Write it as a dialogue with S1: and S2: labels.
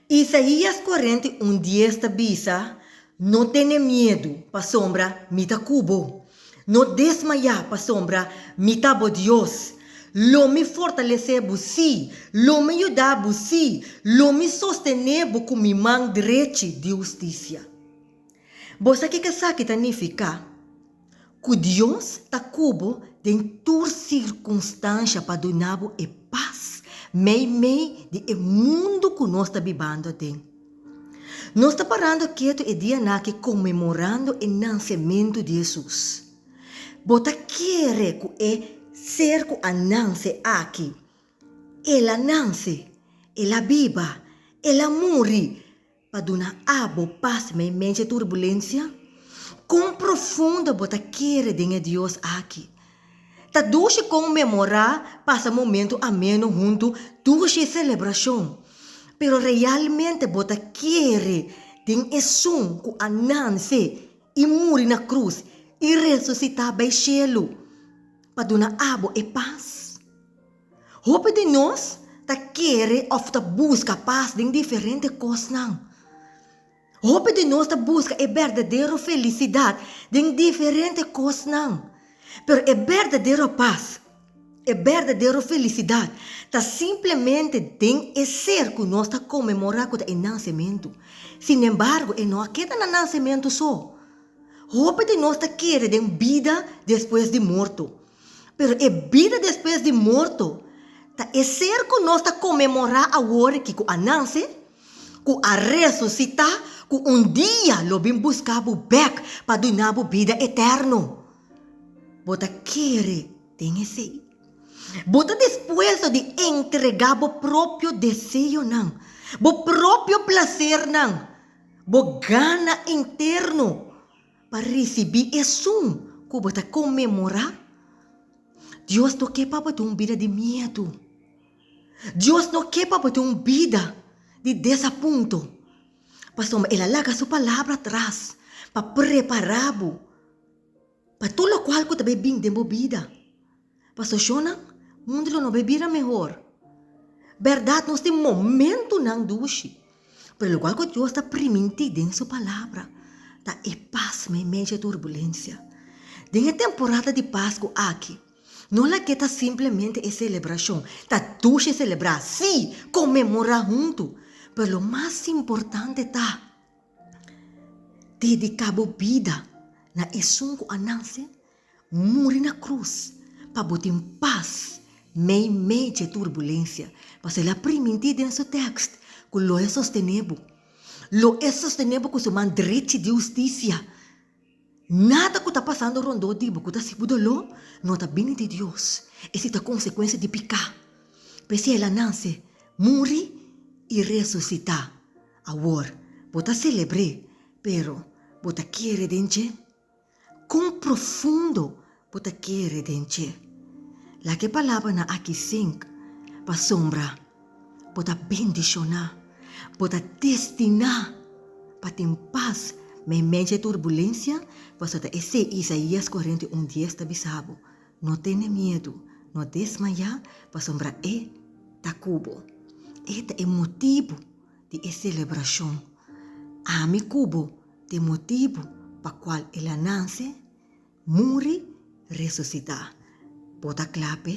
S1: Isaías cuarenta i un dies ta bisa, No tene miedu, pasobra mi ta cu bo. No desmayá, pasobra mi ta bo Dios. Lo mi fortalecé bo, sí, lo mi yudá bo, sí, lo mi sostené bo cu mi man drechi di husticia. Bo sa ke esaki ta nificá? Ku Dios ta ku bo den tur sirkunstansha pa duna bo e pas meimei di e mundu ku nos ta bibando den. Nos ta parando ketu e dia naki konmemorando e nansementu di Hesus. Bo ta kere ku e Ser ku a nanse aki, El a nanse, El a biba, El a muri, Pa duna abo pas men menchi turbulencia? Con profundo bo ta kere den e Dios aki? Ta dushi con memora pasa momento ameno huntu dushi celebracion, pero realmente bo ta kere den Esun cu a nanse y muri na cruz y resucita bay cielo pa duna abo e pas? Hopi di nos ta kere òf ta buska pas den diferente kosnan. Hopi di nos ta buska e berdadero felisidat den diferente kosnan. Pero e berdadero pas, e berdadero felisidat ta simplemente den e ser ku nos ta konmemorá ku ta e nansementu. Sinembargo, e no a keda na nansementu so. Hopi di nos ta kere den bida despues di morto. Pero e bida despues di morto ta e ser ku nos ta konmemorá awor aki ku a nase, ku a resusitá, ku un dia lo bin buska bo bèk pa duna bo bida eterno. Bo ta kere den esei? Bo ta dispuesto di entregá bo propio deseonan, bo propio plasernan, bo gana interno Pa risibí esun ku bo ta konmemorá, Dios no ke pa bo tin un bida di miedu. Dios no ke pa bo tin un bida di desapunto. Pasobra el a laga su palabra atras pa prepará bo pa tur lokual ku ta bai bin den bo bida. Pa stashonnan, mundo lo no bai bira mehor. Bèrdat, nos tin momentunan dushi. Pero e lugar ku Dios ta primintí den su Palabra ta e pas na e medio di e turbulensia. Den e temporada di Pasku aki, no lagu'é ta simplemente e selebrashon. Ta dushi selebrá, sí, konmemorá huntu, pero lo mas importante ta dediká bo bida na esun ku a nase, Muri na cruz pa bo tin paz mei mei dje turbulencia, paso el a priminti den su tekst cu lo e sostene bo, lo e sostene bo cu su man drechi di husticia. Nada cu ta pasando rondó di bo cu ta si bo doló no ta bini di Dios, esi ta consecuencia di picá. P'esei el a nance, muri i resucitá. Awor, bo ta celebr'é, pero bo ta kere den dje? Kon profundo bo ta kere den dje? Laga e palabranan aki sink, pasobra bo ta bendishoná. Bo ta destiná pa tin pas meimei dje turbulensia, pasobra esei Isaías kuarenta i un dies ta bisa bo, No tene miedu, no desmayá, pasobra E ta ku bo. E ta e motibu di e selebrashon. Ami ku bo Tin motibu pa kual el a nase, muri, resusitá. Bo ta kla p'e?